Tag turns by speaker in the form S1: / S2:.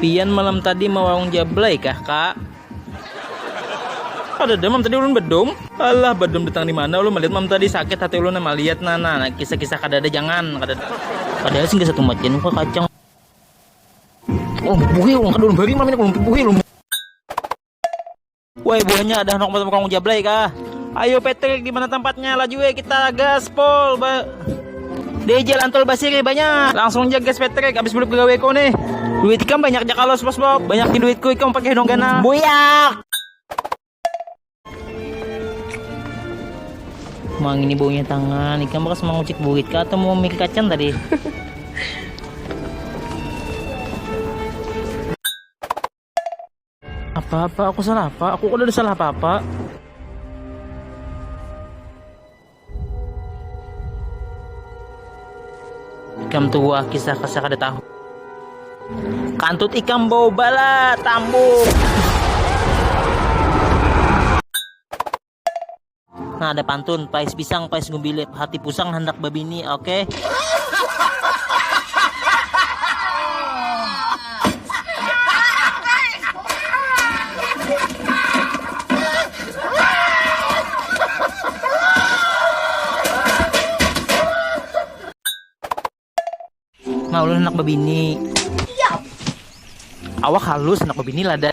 S1: Pian malam tadi mawarung jablay kah kak? Ada deh mam tadi ulun bedum. Alah bedum datang di mana ulun melihat mam tadi sakit hati ulun nama lihat nah nah kisah-kisah kada ada jangan kada ada. Padahal sih gak satu macan muka kacang. Oh buhi ulun kada ulun bari mam ini ulun buhi ulun. Woi buahnya ada nok macam kong jablay kah? Ayo Patrick di mana tempatnya? Laju ya kita gaspol. Ba DJ lantol basiri banyak. Langsung aja guys Patrick habis beli pegawai kau nih. Duit ikam banyak aja kalau bos Bob. Banyak di duitku ikam pakai dong ganal. Buyak. Mang ini baunya tangan. Ikan bekas mengucik buit kah atau mau mikir kacang tadi? Apa-apa? Aku salah apa? Aku udah salah apa-apa. Ikam tua kisah kisah kada tahu. Kantut ikam bau bala tambuk. Nah, ada pantun, pais pisang, pais gubilip, hati pusang handak babini, oke? Okay? Nah, ulun anak babini. Awak halus, anak babini lada.